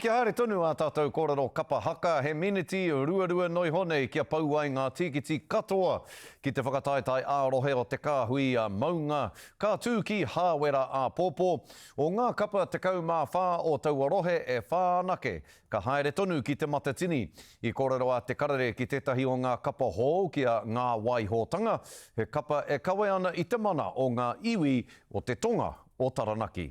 Kia haere tonu ā tātou kōrero kapa haka, he miniti ruarua noa iho nei kia pau ai ngā tīkiti katoa ki te whakataetae ā-rohe o te kāhui maunga, ka tū ki Hāwera āpōpō. O ngā kapa 14 o taua rohe e whā anake ka haere tonu ki Te Matatini. I kōrero a Te Karere ki tētahi o ngā kapa hou ki a Ngā Waihotanga, he kapa e kawe ana i te mana o ngā iwi o te tonga o Taranaki.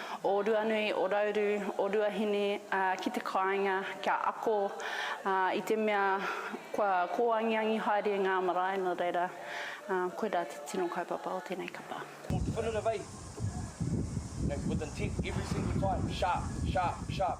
o Ruanui, o Rauru, o Ruahine ki te kāinga kia ako i te mea kua kōangiangi haere ngā marae nō reira koirā te tino kaupapa o tēnei kapa. Ko Te Whanu Navei, you know, with intent every single time, sharp, sharp, sharp.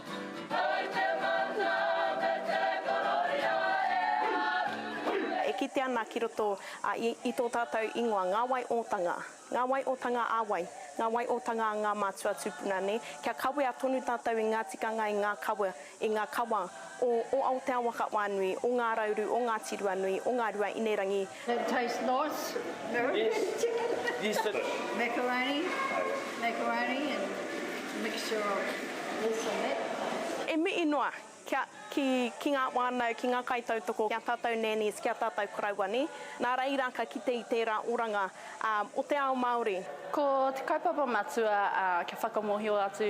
E kite ana ki roto a i tō tātou ingoa ngā wai ōtanga, ngā wai ōtanga ā wai, ngā wai ōtanga a ngā mātua tūpuna nē, kia kawea tonu tātou i ngā tikanga i ngā kawa, i ngā kawa o o Aotearoa ka wānui, o Ngā Rauru, o Ngāti Ruanui, o Ngā Rua Inerangi, That tastes nice, American yes. chicken. Yes, it is. Macaroni, macaroni and mixture of this and that. E mihi noa kia, ki, ki ngā whānau, ki ngā kaitautoko, ki a tātou nannies, ki a tātou karauani, nā reira ka kite i tērā oranga ā, o te ao Māori. Ko te kaupapa matua ā, kia whakamōhio atu